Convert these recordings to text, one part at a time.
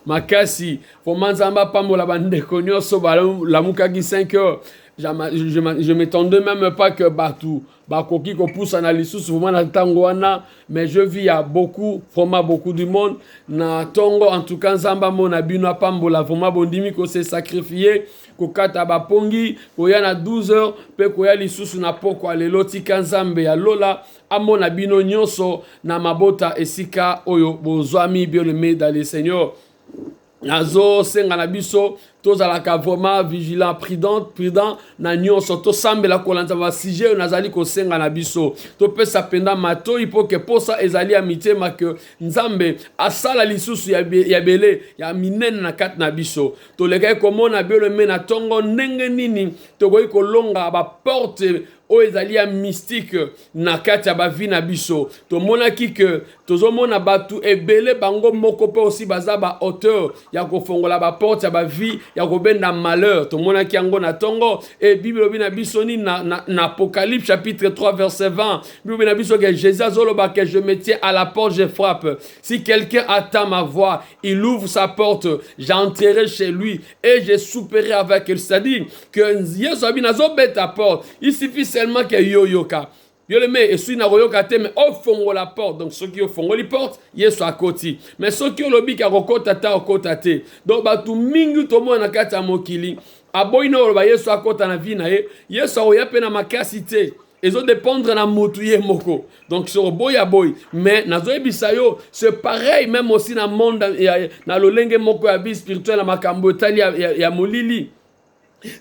makasi vraiment nzambe apambola bandeko nyonso balamukaki 5 heures je m'étendais même pas que bato bakoki kopusana lisusu vraiment na ntango wana mais je vis ya beaucoup vraiment beaucoup du monde na ntongo en tout cas nzambe amona bino apambola vraiment bondimi kose sacrifie kokata bapongi koya na 12 heures mpe koya lisusu na pokwa lelo tika nzambe ya lola Amona bino nyonso na mabota esika oyo bozwami bien aimé dans le Seigneur. nazosenga na biso tozalaka vraiment vigilant prudent prudent na nyonso tosambela kolanda basije oyo nazali kosenga na biso topesa mpenza matoi mpo ke mposa ezali ya mitema ke nzambe asala lisusu ya, be, ya bele ya minene na kati na biso tolekaki komona biolome na ntongo ndenge nini tokoki kolonga baporte oyo ezali ya mystique na kati ya bavi na biso tomonaki ke tozomona bato ebele bango moko mpe osi baza baauteur ya kofongola baporte ya bavi ya kobenda malheur tomonaki yango na ntongo e bible elobi na biso nini na, na, na apocalypse chapitre 3 verset 20 bible na biso ke jésus azoloba ke je me tiens à la porte je frappe si quelqu'un attend ma voix il ouvre sa porte j'entrerai chez lui et je souperai avec lui c'est-à-dire que yesu abi nazobeta porte il suffit seulement que yo oyoka yo le me esui na koyoka te me ofongola porte donc soki ofongoli porte yesu akoti me soki olobi ke akokota ta okota te donc bato mingi tomona na kati ya mokili aboyi na oloba yesu akota na vi na ye yesu akoya mpe na makasi te ezodépendre na mutu ye moko donc soko boyi aboyi mais nazoyebisa yo ce pareil même aussi na monde ya, na lolenge moko ya vie spirituelle na makambo etali ya, ya, ya molili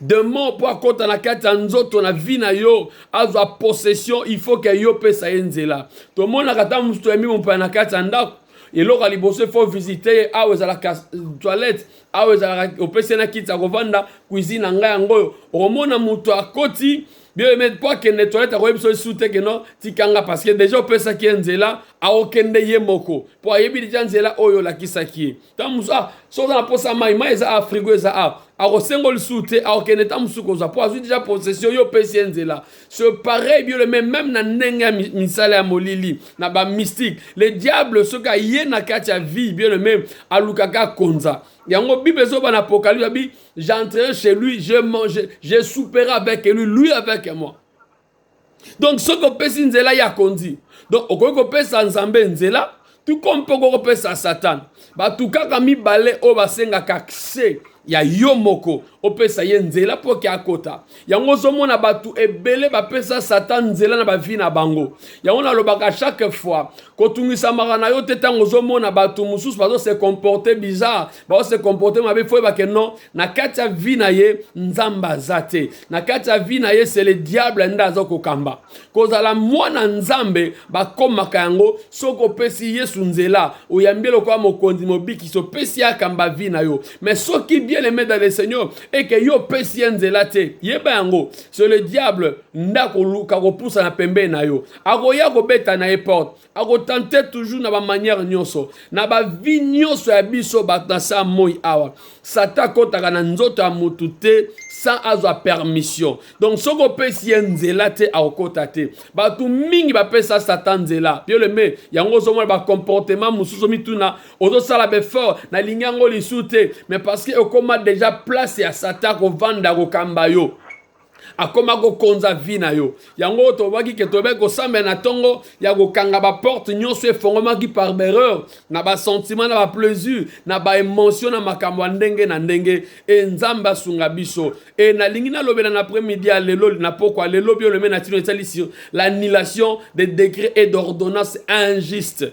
demon mpo akota na kati ya nzoto na vi na yo azwa possession il faut ke yo opesa ye nzela tomonaka ntango mosusu toyambi mompaya na kati ya ndako eloko ya liboso efo visite ye awa ezalaka toilette awa ezalaka opesi ye na kiti ya kovanda cuisine na ngai yango oyo okomona moto akoti bien aimé mpo akende toilette akoyebi biso lisusu te keno tikanga parce que deja opesaki ye nzela akokende ye moko mpo ayebi deja nzela oyo olakisaki ye ntango mosusu ah, soki oza na mposa ya mai mai eza awa frigo eza awa akosengo lisusu te akokende ntango mosusu kozwa mpo azwi deja possession yo opesi ye nzela ce pareil bio le même meme na ndenge ya misala ya molili na bamystique le diable soki aye na kati ya vie bio le même alukaka akonza yango bible ezoba na apocalypse abi j'entrerai chez lui je mange je souperai avec lui lui avec moi donc soki opesi nzela ya konzi donc okoki kopesa nzambe nzela tuko mpe okoki kopesa satana bato kaka mibale oyo basengaka accès ya yo moko opesa ye nzela mpo ke akota yango ozomona bato ebele bapesa satan nzela na bavi na bango yango nalobaka chaque fois kotungisamaka na yo te ntango ozomona bato mosusu bazose comporte bizarre bao se comporte mabe fo oyeba ke non na kati ya vie na ye nzambe aza te na kati ya vie na ye se le diable nde aza kokamba kozala mwana nzambe bakomaka yango soki opesi yesu nzela oyambi elokola mokonzi mobikisi opesi ye akamba vie na yo mais soki bien aime dans le seigneur eke yo opesi ye nzela te yeba yango se le diable nde akoluka kopusana pembeni na yo akoya kobeta na ye porte akotante toujours na bamanière nyonso na bavi nyonso ya biso bato na saa moi awa satan akotaka na nzoto ya motu te sans azwa permission donc soki opesi ye nzela te akokota te bato mingi bapesa satan nzela bioleme yango ozomona bacomportement mosusu omituna ozosala befort nalingi yango lisu te mais parce que okoma deja place ya satan kovanda kokamba yo akoma kokonza vi na yo yango tobaki ke tobaki kosambela na ntongo ya kokanga baporte nyonso efongomaki par berreur na basentiment na baplaisir na baemotion na makambo ya ndenge na ndenge e nzambe asunga biso e nalingi nalobela na après midi ya lelo na pokwa lelo biolome na tino esalisi l'annulation de décret et d'ordonnance injuste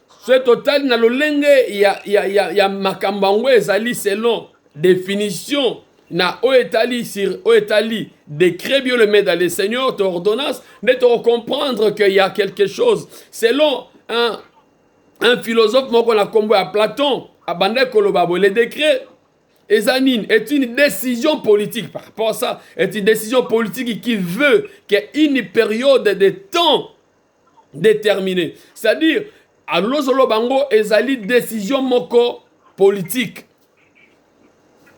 soki totali na lolenge ya, ya, ya, ya makambo yango ezali selon definition na oyo etali sur oyo etali décret bio le maître dans le seigneur to ordonnance nde tokocomprendre que ya quelque chose selon un, un philosophe moko na nkombo ya platon abandaki koloba boye le décret eza nini est une décision politique par rapport à ça est une décision politique qui veut que une période de temps determine c'est à dire alozoloba yango ezali decision moko politique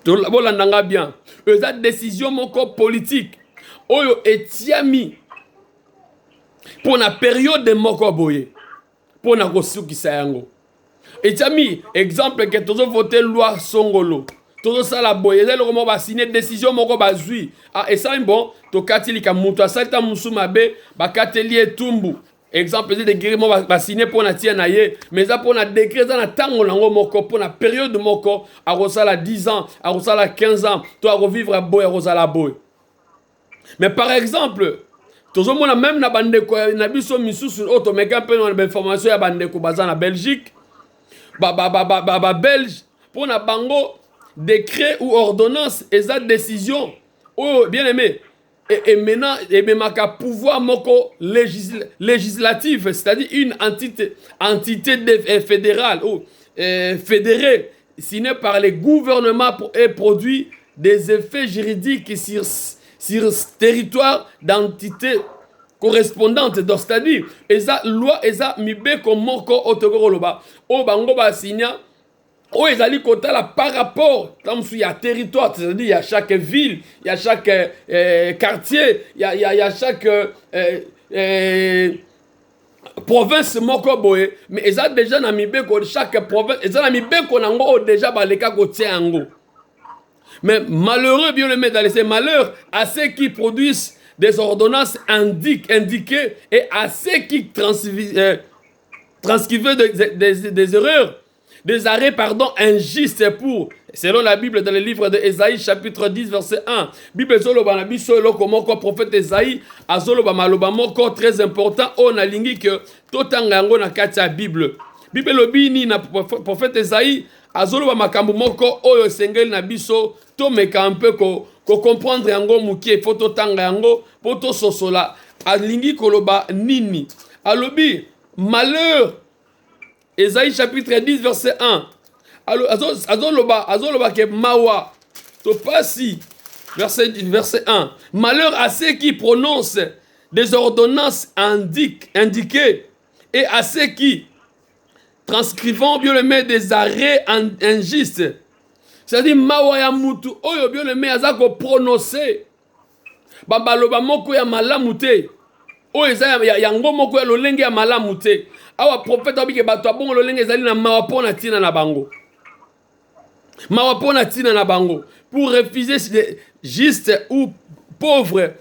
bolanda nga bien eza decision moko politique oyo etiami mpo na periode moko boye mpo na kosukisa yango etiami exemple ke tozo vote loi songolo tozosala boye eza eloko moko basine desizio moko bazwi ah, esali bon tokati lika moto asali ta mosusu mabe bakateli ye etumbu exemple eza degre moko basine mpo na tia na ye mais eza mpo na degre eza na ntango nango moko mpo na periode moko akosala 10 ans akosala 15 ans to akovivre boye akozala boye Mais par exemple, tozomona meme na bandeko na biso misusu oyo tomeka mpe na bainformation ya bandeko baza na Belgique, babelge mpo na bango décret ou ordonnance eza décision oyo bien aimé emena ememaka pouvoir moko législ, législative c'est-à-dire une entité, entité de, eh, fédérale ou eh, fédérée signé par le gouvernement et produit des effets juridiques sur, sur ce territoire d'entité correspondante donc c'est-à-dire eza loi eza mibeko moko oyo tokoki koloba oyo bango basigna oyo ezali kotala par rapport na mosusu ya territoire c'est-à-dire ya chaque ville ya chaque euh, quartier ya, ya, ya chaque euh, euh, province moko boye me eza deja na mibeko chaque province eza na mibeko na yango oyo deja baleka kotia yango mais malheureux bien le dans les malheurs à ceux qui produisent des ordonnances indique, indiquées et à ceux qui transcrivent euh, des, des, des erreurs des arrêts, pardon, injustes pour, selon la Bible dans le livre de Esaïe chapitre 10 verset 1, Bible zoloba na biso eloko moko prophète Esaïe azoloba maloba moko très important oyo nalingi que totanga yango na kati ya Bible. Bible elobi nini na proph- prophète Esaïe azoloba makambo moko oyo esengeli na biso tomeka un peu ko, ko comprendre yango moke faut totanga yango po tososola alingi koloba nini alobi malheur Esaïe chapitre 10 verset 1. Alors, azo, azo loba, azo loba que mawa, to pasi, verset, verset 1. Malheur à ceux qui prononcent des ordonnances indique, indiquées et à ceux qui transcrivant bien aimé des arrêts in- injustes. C'est-à-dire mawa ya mutu oyo bien aimé aza ko prononcer bamaloba moko ya malamu te oyo eza yango moko ya lolenge ya malamu te awa profeta abike bato ya bongo lolenge ezali na mawa mpo na ntina na bango mawa mpo na ntina na bango pour refuser juste ou pauvre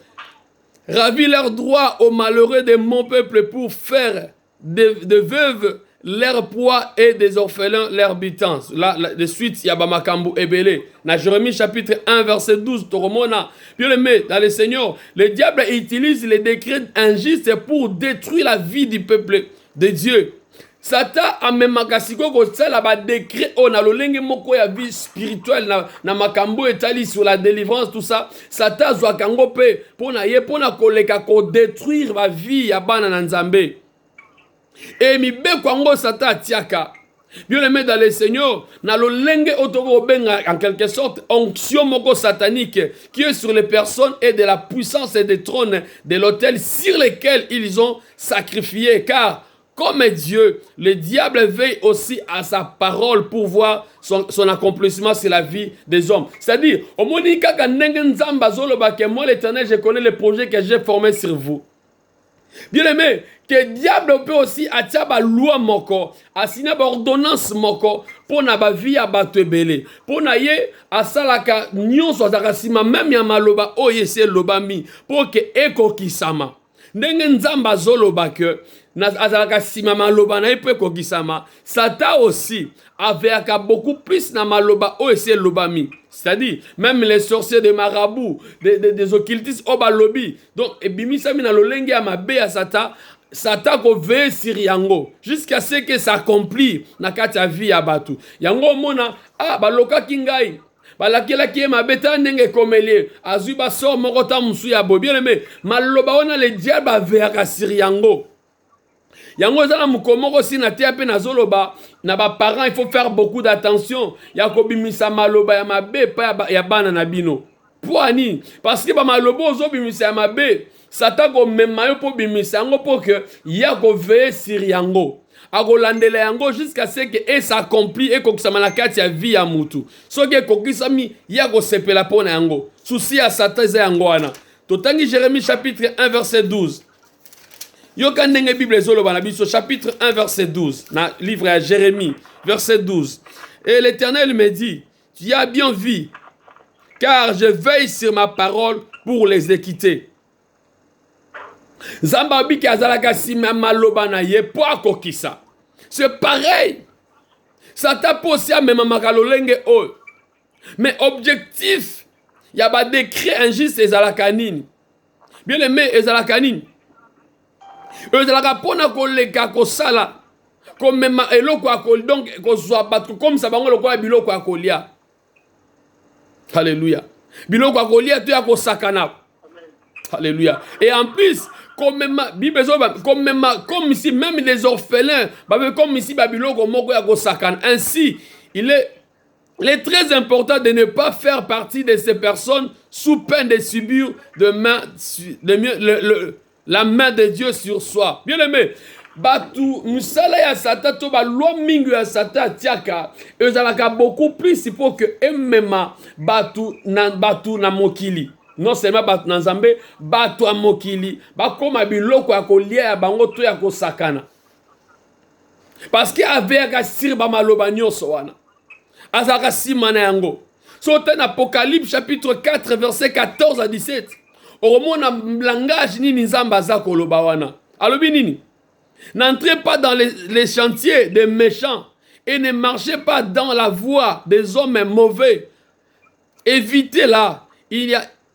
ravir leur droit aux malheureux de mon peuple pour faire des, des veuves leur poids et des orphelins leur bitance la, la, de suite ya bamakambo ebele na jérémie chapitre 1 verset 12 tokomona bien aimé dans le seigneur le diable utilise les décrets injustes pour détruire la vie du peuple de dieu satan amemaka sikoyo kosala badekret oyo na lolenge moko ya vie spirituelle na, na makambo oyo etali sur la délivrance tout ça satan azwaka yango mpe mpo na ye mpo na koleka kodetruire bavie ya bana na nzambe e mibeko yango satan atiaka bien aimé dans le seigneur na lolenge oyo tokoki kobenga en quelque sorte onction moko satanique qui est sur les personnes et de la puissance et des trônes de l'autel sur lesquels ils ont sacrifié car Comme Dieu, le diable veille aussi à sa parole pour voir son, son accomplissement sur la vie des hommes. C'est-à-dire, au moins, kaka ndenge nzamba zoloba que moi l'éternel, je connais les projets que j'ai formés sur vous. Bien aimé, que diable peut aussi atia ba loi moko, asina ba ordonnance moko pour na ba vie ya bato ebele. Pour na ye asalaka nyonso azalaka sima même ya maloba oyo esi elobami pour que ekokisama. ndenge nzambe azoloba ke azalaka nsima maloba na ye mpo ekokisama satan aussi aveyaka beaucoup plus na maloba oyo esi elobami c'est-à-dire même les sorciers de marabout des, des, des occultistes oyo balobi donc ebimisami na lolenge ya mabe ya satan satan koveye siri yango jusqu'à ce que s'accomplir na kati ya vie ya bato yango omona ah balokaki ngai balakelaki ye mabe tala ndenge ekomeli ye azwi basor moko ta mosusu ya boye bien aime maloba wana le diable aveyaka sur yango yango eza na mokolo moko si na teya mpe nazoloba na baparent il faut faire beaucoup d'attention ya kobimisa maloba ya mabe epai ya bana na bino mpo ya nini parce que bamaloba ozobimisa ya mabe Satan akomema yo mpo bimisa yango mpo que ye akoveye sur yango akolandela yango jusqu'à ce que e s'accompli ekokisama na kati ya vie ya mutu soki ekokisami ye akosepela mpo na yango susi ya satan eza yango wana totangi jérémie chapitre 1 verset 12 yoka ndenge bible ezoloba na biso chapitre 1 verset 12 na livre ya jérémie verset 12 et l'éternel me dit Tu as bien vu, car je veille sur ma parole pour les équiter. Nzambe alobi ke azalaka nsima ya maloba na ye mpo akokisa. C'est pareil. Satan mpo osi amemamaka lolenge oyo. Mais objectif ya ba décret injuste ezalaka nini? Bien aimé ezalaka nini? ezalaka mpo na koleka kosala komema eloko ya kolia donc kozwa bato kokomisa bango lokola biloko ya kolia halleluya biloko ya kolia to ya kosakana halleluya et en plus komema bible ezoba komema comme ici même les orphelins babe comme ici babiloko moko ya kosakana ainsi il est Il est très important de ne pas faire partie de ces personnes sous peine de subir de main, de mieux, le, le, La main de Dieu sur soi. Bien aimé, batu misala ya sata to balwa mingi ya sata atiaka ezalaka beaucoup plus mpo ke emema batu na, batu na mokili non seulement bato na nzambe bato ya mokili bakóma biloko ya kolia ya bango to ya kosakana parceke aveyaka sire bamaloba nyonso wana azalaka nsima na yango so ota na apocalypse chapitre 4 verset 14 à 17 okomona langage nini nzambe aza koloba wana alobi nini n'entrez pas dans les, les chantiers des méchants et ne marchez pas dans la voie des hommes mauvais évitez là il y a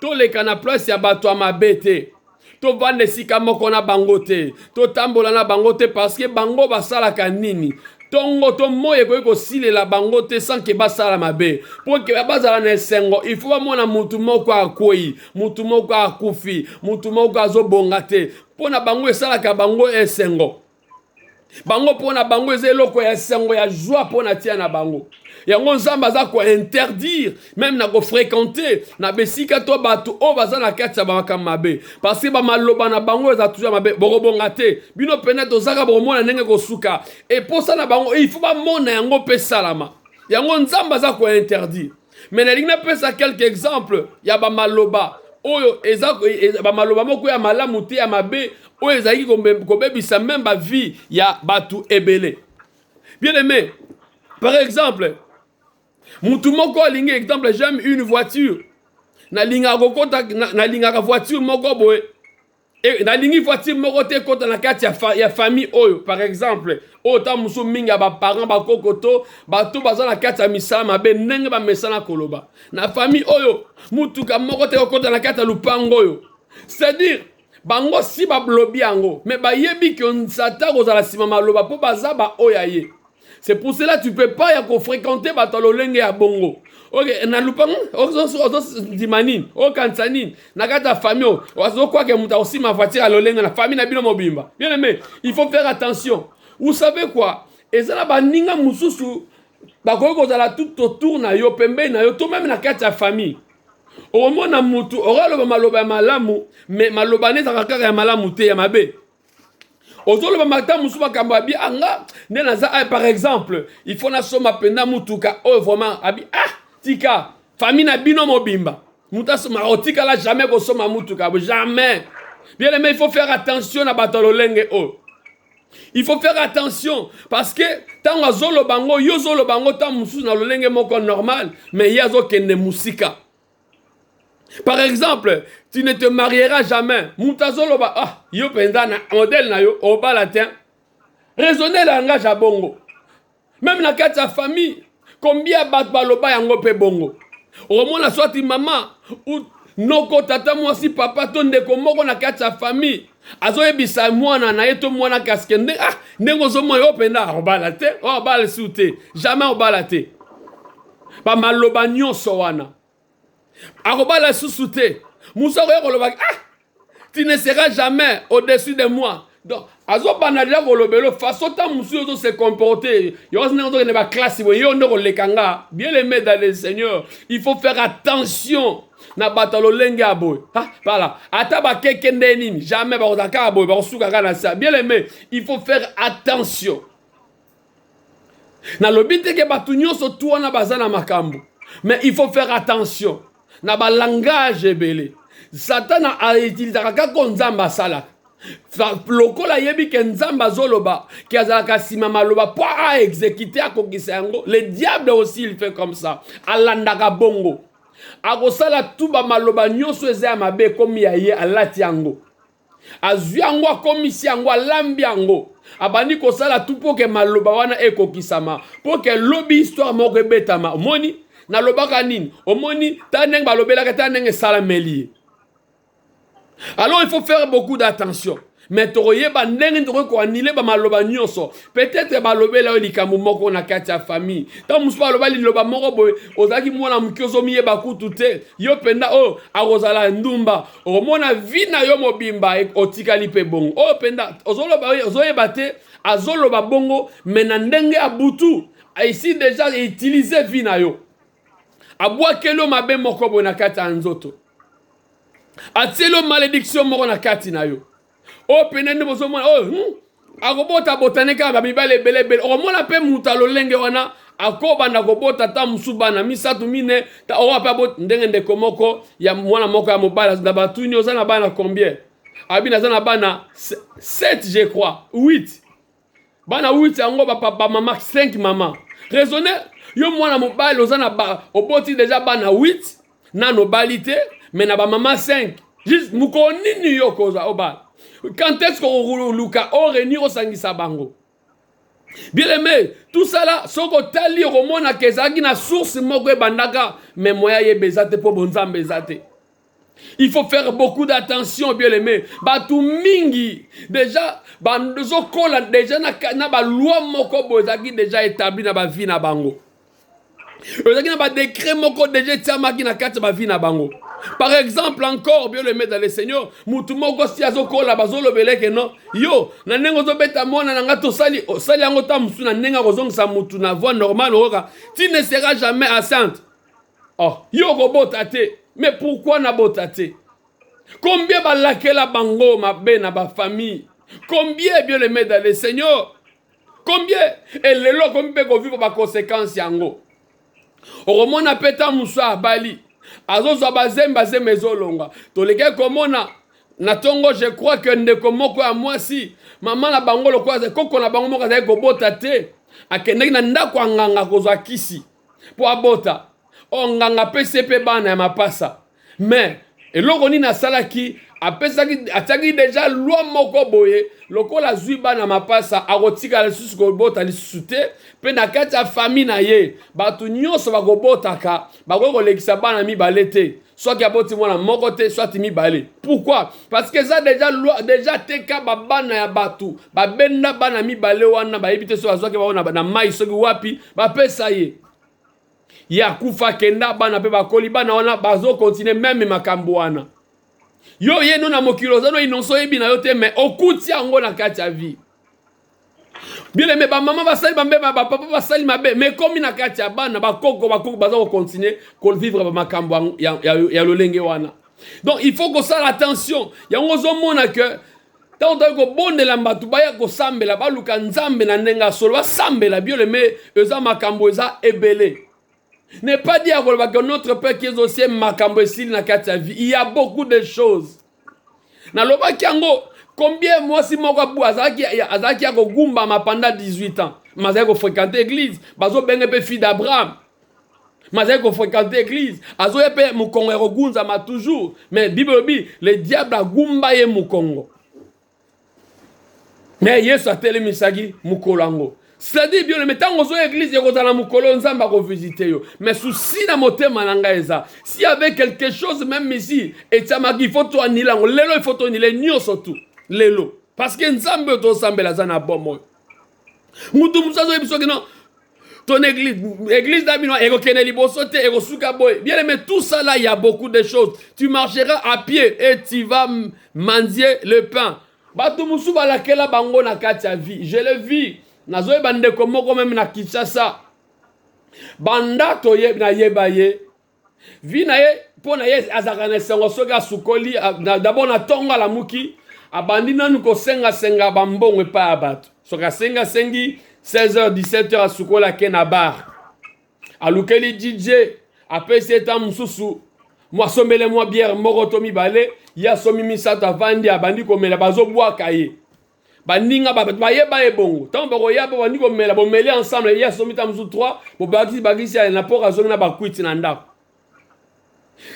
Toleka na place ya bato ya mabe te. Tovanda esika moko na bango te. Totambola na bango te parce que bango basalaka nini? ntongo to moi ekoki kosilela bango te sanke basala mabe mpo bazala na esengo ifo bamona motu moko akwei motu moko akufi motu moko azobonga te mpo na bango esalaka bango esengo bango mpo na bango eza eloko ya sango ya zwa mpo na tia na bango yango nzambe aza kointerdire meme na kofrekante na besika to bato oyo baza na kati ya bamakambo mabe parceke bamaloba na bango eza tuza mabe bokobonga te bino mpena tozaka bokomona ndenge kosuka eposa na bango il faut bamona yango mpe esalama yango nzambe aza kointerdire me nalingi napesa quelque exemple ya bamaloba oyo eza e, bamaloba moko ya malamu te ya mabe oyo ezalaki kobebisa meme bavie ya bato ebele bien aimé par exemple motu moko alingi exemple j'aime une voiture nalingaka kokota nalingaka voiture moko boye E, nalingi voiture moko te ekota na kati ya, fa, ya famille oyo par exemple oyo ntango mosusu mingi ya baparent bakoko to bato baza na kati ya misala mabe ndenge bamesana koloba na famille oyo motuka moko te ekokota na kati ya lupango oyo c'est-à-dire bango si balobi yango me bayebi ke satan kozala nsima maloba mpo baza baoyo ya ye c'est pour cela tu peux pas ya kofréquente bato ya lolenge ya bongo oke na lupango ozondima nini okanisa nini na kati ya famille oyo ozokwake moto akosima voiture ya lolenge na famille na bino mobimba bien aimé il faut faire attention vous savez quoi eza na baninga mosusu bakoki kozala tout autour na yo pembeni na yo to meme na kati ya famille okomona motu okaloba maloba ya malamu me maloba ne ezalaka kaka ya malamu te ya mabe ozoloba mata mosusu makambo abi anga ah, nde naza ah, par exemple il faut nasomba mpenza motuka oyo oh, vraiment abi ah tika famille na bino mobimba moto asomba otikala oh, jamais kosomba motuka jamais bien aimé il faut faire attention na bato ya lolenge oyo oh. il faut faire attention parce que ntango azoloba yango yo ozoloba yango ntango mosusu na lolenge moko normal mais ye azokende mosika par exemple tu ne te mariera jamais moto azoloba ah yo mpenza na modele na yo obala te raisonne langage ya bongo meme na kati ya famille kombia bato baloba yango mpe bongo okomona swati mama noko tata mwasi papa to ndeko moko na kati ya famille azoyebisa mwana na ye to mwana kasike nde ah ndenge ozomona yo mpenza obala te obala su te jamais obala te bamaloba nyonso wana akobala susu te mosu akoya koloba ah tu ne seras jamais au-dessus de moi donc azobanda deja kolobelo façon ntango mosusu ozo se comporte yokosi ndenge ozokende baklasse boye yo nde koleka nga bien aimé dans le seigneur il faut faire attention na bato ya lolenge ya boye pala ata bakeke nde nini jamais bakozala kaka boye bakosuka kaka na sa bien aimé il faut faire attention nalobi te ke bato nyonso tu wana baza na makambo mais il faut faire attention na balangage ebele satana autilisaka kaka oyo nzambe asalaka lokola ayebi ke nzambe azoloba ke azalaka nsima maloba mpo aexekite akokisa yango le diable aussi il fait comme ça alandaka bongo akosala tu bamaloba nyonso eza ya mabe ekomi ya ye alati yango azwi yango akomisi yango alambi yango abandi kosala tu mpo ke maloba wana ekokisama mpo ke lobi histoire moko ebetama omoni nalobaka nini omoni ta ndenge balobelaka ta ndenge esalameli ye alors il faut faire beaucoup d'attention me tokoyeba ndenge nini tokoki koanile bamaloba nyonso peut-être balobela yo likambo moko na kati ya famille ntango mosusu baloba liloba moko boye ozalaki mwana moke ozomiyeba kutu te yo mpenza oyo oh, akozala ndumba okomona vie na yo mobimba e, otikali mpe bongo oyo oh, mpenza ozoloba ozoyeba te azoloba bongo me na ndenge ya butu esi deja eutilize vie na yo abwakeli yo mabe moko boye na kati ya nzoto atieli yo malediction moko na kati na yo oyo pene nde bozomona oyo hmm? akobota botane kaka mibale ebele ebele okomona mpe moto ya lolenge wana akobanda kobota ata mosusu bana misato mine oyo mpe aboti ndenge ndeko moko ya mwana moko ya mobali na batuni oza na bana combien abi naza na bana 7 je crois 8 bana 8 yango bapapa mama 5 mama raisonne yo mwana mobali oza na ba oboti deja bana 8 nano obali te me na bamama 5 juste mokolo nini yo okozwa obala quand est ce kokoluka orenir osangisa bango bien aimé tosala soki otali okomonaka ezalaki na source moko ebandaka me moya yeba eza te mpo bonzambe eza te Il faut faire beaucoup d'attention, bien aimé. Batu mingi, déjà, bandozo kola, déjà, na, na ba loi moko bozaki déjà établi na ba vie na bango. Ozaki na ba décret moko déjà etiamaki na kati ba vie na bango. Par exemple, encore, bien aimé dans le Seigneur, mutu moko si azo kola, bazo lobele que non, yo, na nengo zo beta mona na nga tosali, osali yango ta musu na nenga kozongisa mutu na voie normale, oka, tu ne seras jamais enceinte. Oh, yo okobota te. Mais pourquoi nabota te? Combien balakela bango mabe na ba famille? Combien bien le maître d'aller Seigneur? Combien et lelo komi mpe kovivre ba conséquences yango? Okomona mpe ta musa abali azozwa bazembe bazembe ezolonga. Tolekaki komona na tongo je crois que ndeko moko ya mwasi mama na bango lokola koko na bango moko azali kobota te akendaki na ndako ya nganga kozwa kisi mpo abota o nganga apesi mpe bana ya mapasa mais eloko nini asalaki apesaki atiaki deja lwa moko boye lokola azwi bana mapasa akotikala lisusu kobota lisusu te mpe na kati ya fami na ye bato nyonso bakobotaka bakoki kolekisa bana mibale te soki aboti mwana moko te soit mibale pourquoi parce que eza deja loi deja teka babana ya bato babenda bana mibale wana bayebi te soki bazwaki bango na, na mai soki wapi bapesa ye ye akufa kenda bana mpe bakoli bana wana bazokontinue meme makambo wana yo ye no na mokili oza no inonso oyebi na yo te me okuti yango na kati ya vie bien aime bamama basali bambe bapapa basali mabe me ekomi na kati ya bana bakoko bakoko baza kocontinue kovivre bamakambo ya, ya, ya lolenge wana donc il faut kosala attention yango ozomona ke ntango toyaki kobondela bato baya kosambela baluka nzambe na ndenge ya solo basambela biole me eza makambo eza ebele ne pas dire akolobaka notre père qui est au ciel makambo esili na kati ya vie il y a beaucoup de choses nalobaki yango combien mwasi moko azalaki azalaki ya kogumbama pendant 18 ans mazali kofréquente église bazobenge mpe fille d'abraham mazali kofréquente église azoya mpe mokongo ya kogunzama toujours mais bible elobi le diable agumba ye mokongo me yesu atelemisaki mokolo yango cetadire biolo me ntango ozoya eglize ekozala mokolo oyo nzambe akovisite yo me susi na motema na ngai eza si ave quelque chose meme isi etiamaki ifo toanila yango lelo ifo tonile nyonso tu lelo parceke nzambe oyo tosambela aza na bomoi mutu mosusu azoyebi soki non ton église église na bino ekokende liboso te ekosuka boye bien mais tout ça là il y a beaucoup de choses tu marcheras à pied et tu vas mendier le pain bato mosusu balakela bango na kati ya vie je le vis nazoyeba ndeko moko meme na kinshasa banda toye nayeba ye vie na ye mpo na ye azalaka na esengo soki asukoli dabord na ntongo alamuki abandi nanu kosengasenga bambongo epai ya bato soki asengi asengi 16h 17h asukoli ake na bar alukeli dj apesi ye ntango mosusu asombele mwa biere moko to mibale ye asombi misato avandi abandi komela bazobwaka ye baninga ba bato baye baye bongo ntango bakoya mpo bandi komela bomeli ensemble ye asomi ntango mosusu 3 bobakisi bakisi na mpoka azongi na bakwiti na ndako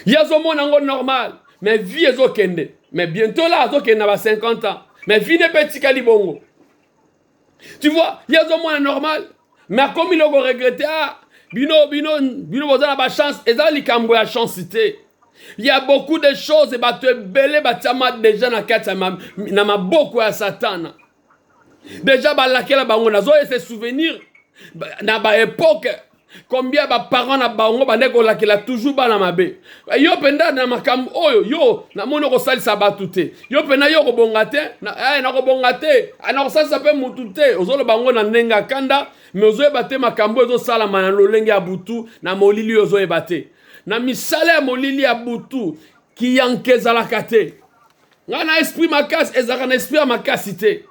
ye azomona yango normal mais vie ezokende mais bientôt la azokende na ba 50 ans mais vie nepe etikali bongo tu vois ye azomona normal mais akomi loko regrete a ah, bino bino bino boza na bachance eza likambo ya chance te ya beaucoup de choses bato ebele batiama deja na kati na maboko ya satana deja balakela bango nazoye se souvenir na baepoke combien baparent na bango bande kolakela toujours bana mabe Eh, yo mpenza na makambo oyo yo namoni okosalisa bato te yo mpenza yo okobonga te eh, nakobonga te eh, nakosalisa mpe motu te ozoloba yango na ndenge ya kanda me ozoyeba te makambo oyo ezosalama na lolenge ya butu na molili oyo ozoyeba te na misala ya molili ya butu kiyanke ezalaka te ngai na esprit makasi ezalaka na esprit ya makasi te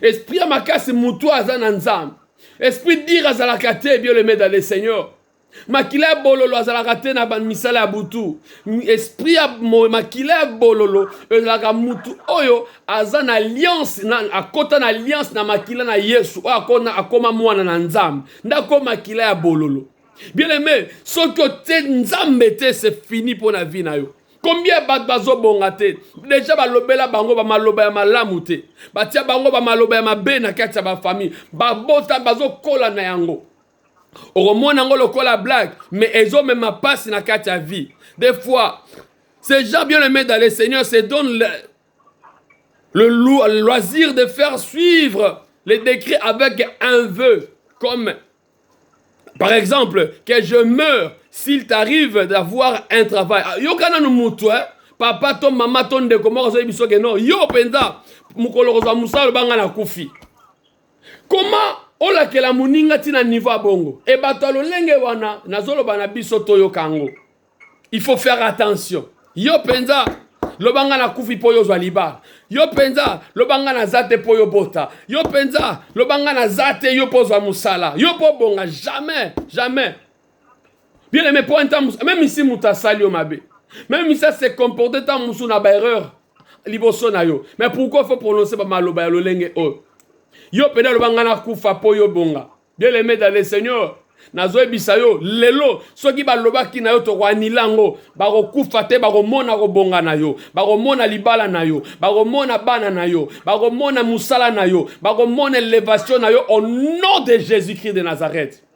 esprit ya makasi motu aza na nzambe esprit dire azalaka te bien le medale seigneur makila ya bololo azalaka te na misala ya butu esprit ya makila ya bololo ezalaka mutu oyo aza na alliance na, akota na alliance na makila na yesu oyo akona akoma mwana na nzambe nde akoma makila ya bololo bien aime soki otie nzambe te se fini mpo na vi na yo combien ya bato bazobonga te deja balobela bango bamaloba ya malamu te batia bango bamaloba ya mabe na kati ya bafamille babota bazokola na yango okomona yango lokola blague mais ezomema mpasi na kati ya vie des fois ces gens bien aimés dans le seigneur se donne le, le, le loisir de faire suivre les décrets avec un vœu comme par exemple que je meurs s'il t'arrive d'avoir un travail ah, yoka nanu motu eh? papa to mama to ndeko moko azoyebi biso ke non yo mpenza mokolo kozwa mosala obanga na kufi Comment olakela muninga ti na niveau ya bongo? Et bato ya lolenge wana nazoloba na biso toyoka yango. Il faut faire attention. Yo penza loba nga nakufi mpo yo ozwa libala yo mpenza loba nga naza te mpo yo bota yo mpenza loba nga naza te yo mpo ozwa mosala yo mpo obonga jamais jamais bien aimé mpo ata meme isi moto asali yo mabe meme isi ase comporte ntango mosusu na baerreur liboso na yo mais pourquoi faut prononce bamaloba ya lolenge oyo yo mpena aloba ngai nakufa mpo yo bonga bien aimé dans le seigneur nazoyebisa yo lelo soki balobaki na yo tokoanila yango bakokufa te bakomona kobonga na yo bakomona libala na yo bakomona bana na yo bakomona mosala na yo bakomona elevation na yo au nom de jésus christ de nazareth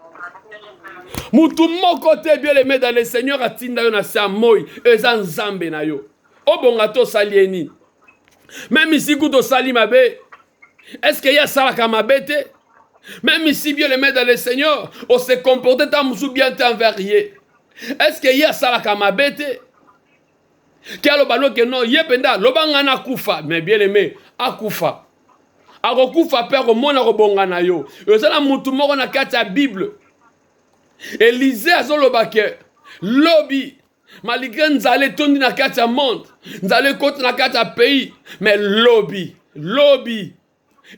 mutu moko te bien aime dans le seigneur atinda yo na se ya moi eza nzambe na yo obonga te osali ye nini meme isi kutu osali mabe eske ye asalaka mabe te meme isi bien aime dans le seigneur ose comporte ta mosusu bien te envers ye eske ye asalaka mabe te ti aloba no ke no ye mpenza loba ngai nakufa me bien aime akufa akokufa mpe akomona kobonga na yo eza na motu moko na kati ya bible elize azoloba ke lobi malgré nzala etondi na kati ya monde nzala ekoti na kati ya pays me lobi lobi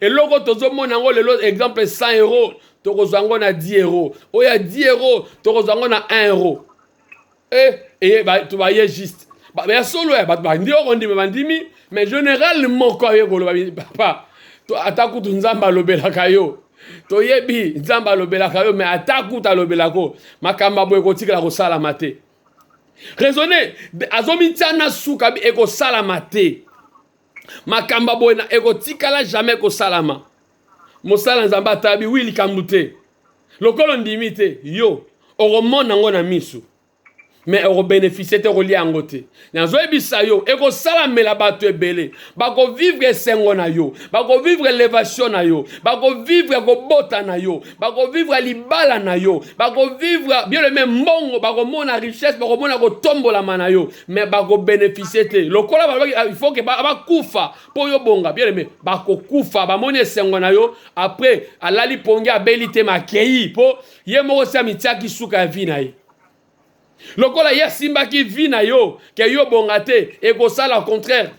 eloko tozomona yango lelo exemple 100 euro tokozwa yango na 10 euro oyo ya 10 euro tokozwa yango na 1 euro e eye bato baye juste ya solo ya bato bandi okondima bandimi mais général moko aye koloba papa ata kutu nzambe alobelaka yo toyebi nzambe alobelaka yo mais ata kutu alobelako makambo boye kotikala kosalama te raisonne azomitya na suka ekosalama te makambo ya boye ekotikala jamais kosalama mosala nzambe atabi wi likambo te lokola ondimi te yo okomona yango na miso me okobenefisie te okolia yango te nazoyebisa yo ekosalamela bato ebele bakovivre esengo na yo bakovivre elevation na yo bakovivre kobota na yo bakovivre libala na yo bakovivre bien le même mbongo bakomona richesse bakomona kotombolama na yo mais bakobeneficie te lokola balobaki ah, il faut ke bakufa mpo yo bonga bien le même bakokufa bamoni esengo na yo après alali pongi abeli te makei mpo ye moko si amitiaki suka ya vi na ye lokola ye asimbaki vi na yo ke yo bonga te ekosala contraire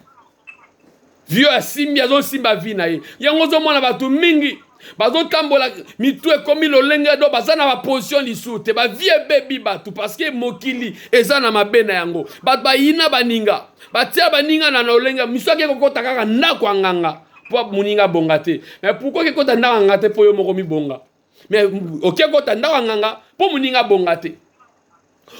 vio asimbi azosimba vi na ye yango ozomona bato mingi bazotambola mitu ekomi lolenge do baza na baposition lisusu te bavi ebebi bato parceke mokili eza na mabe na yango bato bayina baninga batia baninga na lolenge misu ake kokota kaka ndako ya nganga mpo moninga abonga te me pourkoi kekota ndako ya nganga te mpo yo moko mibonga mais oke kota ndako ya nganga mpo moninga abonga te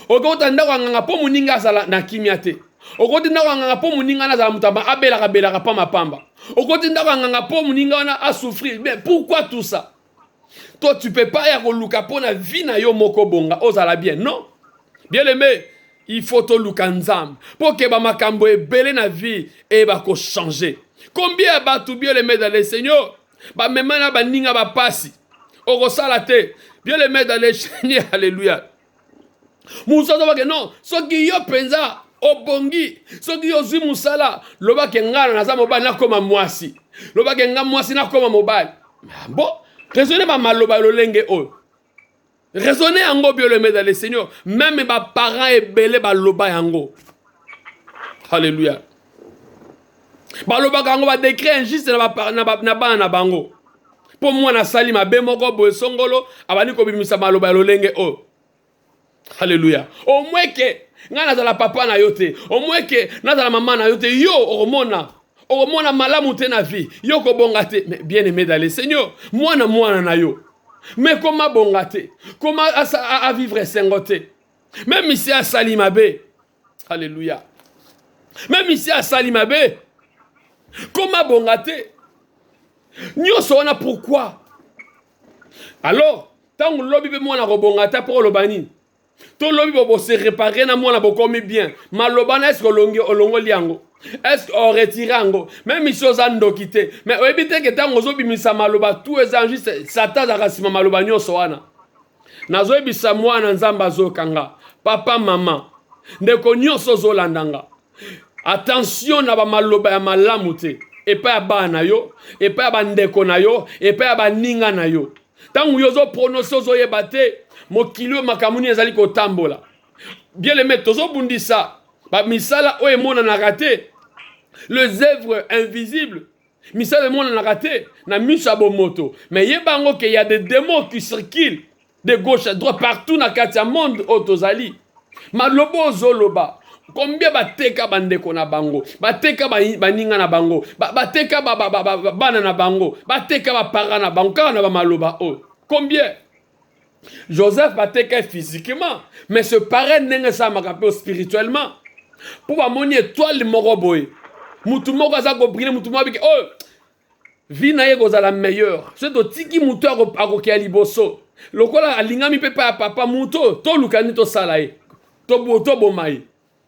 oke kota ndako ya nganga mpo moninga azala na kimia te okoti ndako ya nganga mpo moninga wana azala moto abelaka belaka pamba pamba okoti ndako ya nganga mpo moninga wana asouffrir mais pourquoi tout ça toi tu peux pas ya koluka mpo na vie na yo moko bonga ozala bien non bien aimé il faut toluka nzambe mpo keba makambo ebele na vie eyeba kochanger combien ya bato bien aimé dans le seigneur bamema na baninga bapasi okosala te bien le maire dans le seigneur alléluia mosusu azobake non soki yo mpenza obongi soki yo ozwi mosala lobake ngana naza mobali nakoma mwasi lobake nga mwasi nakoma mobali ah, bo raisonne bamaloba ya lolenge oyo raisonne yango biolomeda le seigneur meme baparent ebele baloba yango halleluya balobaka yango badekret injuste na bana na bango mpo mwana asali mabe moko boye songolo abandi kobimisa maloba ya lolenge oyo oh. Alléluia. Au moins que nga nazala papa na yo te. Au moins que nazala maman na yo te. Yo okomona okomona malamu te na vie. Yo kobonga te. Mais bien aimé d'aller Seigneur, mwana mwana na yo. Mais koma bonga te. Koma a, a, a vivre sengo te. Même si asali mabe, Alléluia. Même ici à Salimabe, comme à Bongate, nous sommes là pourquoi Alors, tant que l'objet est moins à Bongate, pour le banir. to lobi bobo se réparer na mwana bokomi bien maloba na eske olongi olongoli yango eske oretire yango meme isi oza ndoki te mais oyebi te ke ntango ozobimisa maloba tu eza juste satan azalaka nsima maloba nyonso wana nazoyebisa mwana nzambe azoyoka nga papa mama ndeko nyonso ozolanda nga attention na bamaloba ya malamu te epai ya bana na yo epai ya bandeko na yo epai ya baninga na yo ntango yo ozoprononse ozoyeba te mokili oyo makambo nini ezali kotambola bieleme tozobundisa bamisala oyo emonanaka te les œuvres invisibles Misala emonanaka te na miso ya bomoto, mais yeba yango ke ya des demons qui circulent de gauche à droite partout na kati ya monde oyo tozali. Maloba ozoloba combien bateka bandeko na bango, bateka baninga na bango, bateka bana na bango, bateka bapara na bango kaka na bamaloba oyo combien? joseph bateka ye physiquement mais ce pareil ndenge esalamaka mpe spirituellement mpo bamoni etoile moko boye motu moko aza kobrile motu moko abiki oyo oh, vi na ye ekozala meilleure so totiki motu akokea liboso lokola alingami mpe epai ya papa motu oyo toluka nini tosala ye toboma ye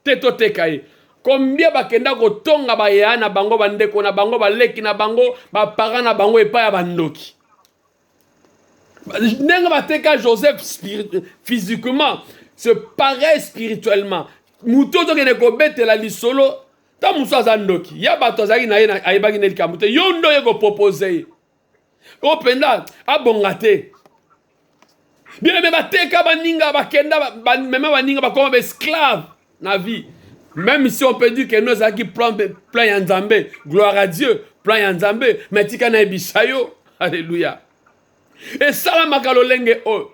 te toteka ye kombie bakenda kotonga bayaya na bango bandeko na bango baleki na bango bapara na bango epai ya bandoki ndenge bateka joseph physiquement se pareil spirituellement moto ozokende kobetela lisolo ntango mosusu aza ndoki ya bato azalaki na ye ayebaki nde likambo te yo nde oye kopropose ye oyo mpenza abonga te bino mpe bateka baninga bakenda bamema baninga bakoma baesclave ba na vie même si on peut dire que nous ezalaki plan plan ya nzambe gloire à dieu plan ya nzambe mais tika nayebisa yo alleluya esalamaka lolenge oyo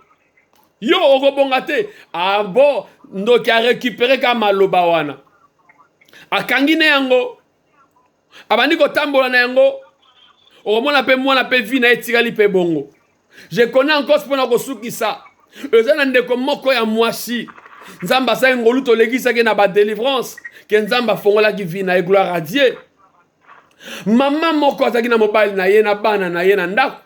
yo okobonga te abo ah ndoki arekipere ka maloba wana akangi ne yango abandi kotambola na yango okomona mpe mwana mpe vi na ye etikali mpe bongo je connais encore mpo na kosukisa eza na ndeko moko ya mwasi nzambe asali ngolu tolekisaki na badelivrance ke nzambe afongolaki vi na ye gloire a dieu mama moko azalaki na mobali na ye na bana na ye na ndako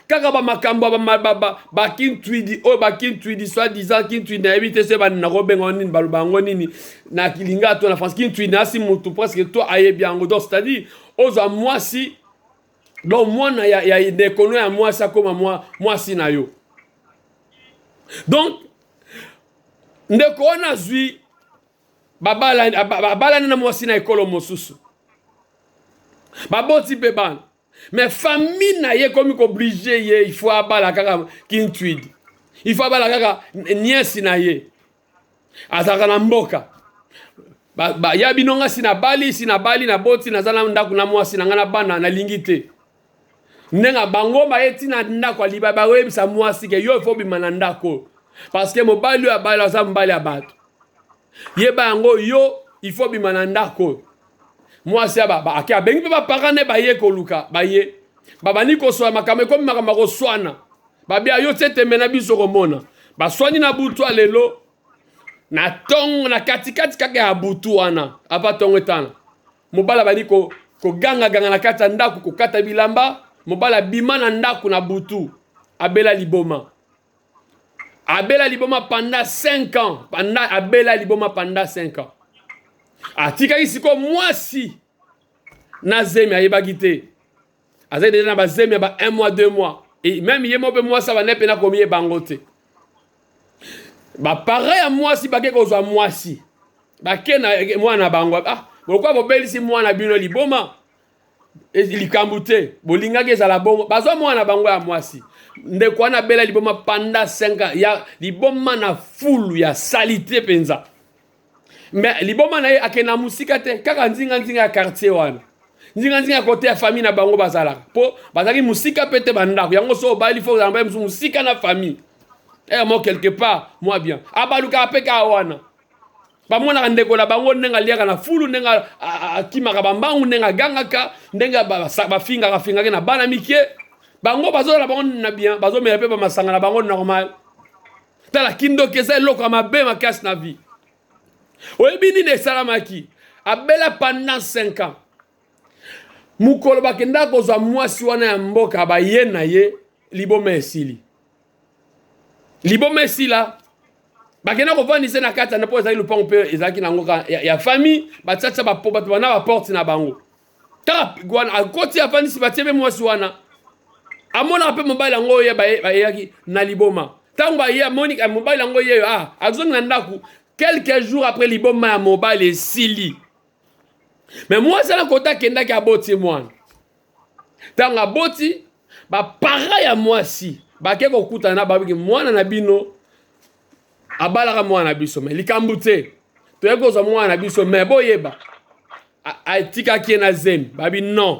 kaka bamakambo ya bakintwidi oyo bakintwidi soi disant kintwidi nayebi te se bani nakobenga nini baloba yango nini na kilinga to na france kintwidi asi motu presque to ayebi yango donc c'est à dire ozwa mwasi donc mwana ya, ya dekono ya mwasi akoma mwa, mwasi na yo donc ndeko wana azwi babalani na mwasi na ekolo mosusu baboti mpe bana mais famille na ye ekomi koblige ye il faut abala kaka kintuidi il faut abala kaka nièce na ye azalaka na mboka ba, ba, ya bino nga si nabali si nabali naboti naza na ndako na mwasi na ngai na bana nalingi te ndenge bango baye ntina ndako ya libala bakoyebisa mwasi ke yo ifo bima na ndako oyo parce que mobali oyo abali aza mobali ya bato yeba yango yo ifo bima na ndako oyo mwasi ya baba ake abengi mpe bapaka ne baye koluka baye babandi koswana makambo ekomi makambo ya koswana babia yo te tembe na biso komona baswani na butu ya lelo na ntongo na katikati kaka ya butu wana apa ntongo etana mobali abandi kogangaganga na kati ya ndako kokata bilamba mobali abima na ndako na butu abela liboma abela liboma panda 5 ans panda abela liboma panda 5 ans atikaki sikoyo mwasi na zemi ayebaki te azali deja na bazemi ya ba 1 mois 2 mois e meme ye moko mpe mwasi abandai mpe nakomi ye bango te bapara ya mwasi bake kozwa mwasi bake na mwana na bango ah lokola bobelisi mwana bino liboma likambo te bolingaki ezala bongo bazwa mwana na bango ya mwasi ndeko wana abela liboma panda 5 ya liboma na fulu ya salite mpenza me liboma na ye akende na mosika te kaka nzinganzinga ya quartier wana nzinganzinga ya kote ya famille na bango bazalaka mpo bazalaki mosika mpe te bandako yango so obali fo ozala mobali mosusu mosika na famille emo eh, quelque part mwa bien abalukaka mpe kaka wana bamonaka ndeko na bango ndenge aliaka na fulu ndenge akimaka bambangu ndenge agangaka ndenge bafingaka fingaki na bana mike bango bazozala bango na bien bazomela mpe bamasanga na bango normal tala kindoki eza eloko ya mabe makasi na vie oyebi nini esalamaki abela pendant 5 ans mokolo bakendaka kozwa mwasi wana ya mboka baye na ye liboma esili liboma esila bakenda kovandisa na kati na mpo ezali lopango mpe ezalaki na yango ya, ya famille batiatia bapo bato bana baporte na bango kaka wana akoti afandisi batie mpe mwasi wana amonaka mpe mobali yango oyo bayeyaki na liboma ntango aye amoni eh, mobali yango yeyo ah, azongi na ndako quelques jours après liboma ya mobali esili me mwasi ana kota akendaki aboti mwana ntango aboti bapara ya mwasi bake kokutana na babiki mwana na bino abalaka mwana na biso me likambo te toyaki kozwa mwana na biso me boyeba atikaki ye na zemi babi non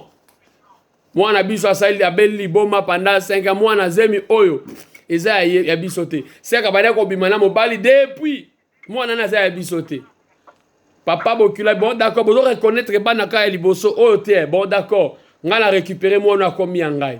mwana na biso asali abeli liboma panda 5 mwana zemi oyo eza ya, ya biso te seka banda kobima na mobali depuis mwana na aza ya biso te papa bokila bon d'accord bozo reconnaître bana ka ya liboso oyo te bon d'accord ngai na récupérer mwana akomi ya ngai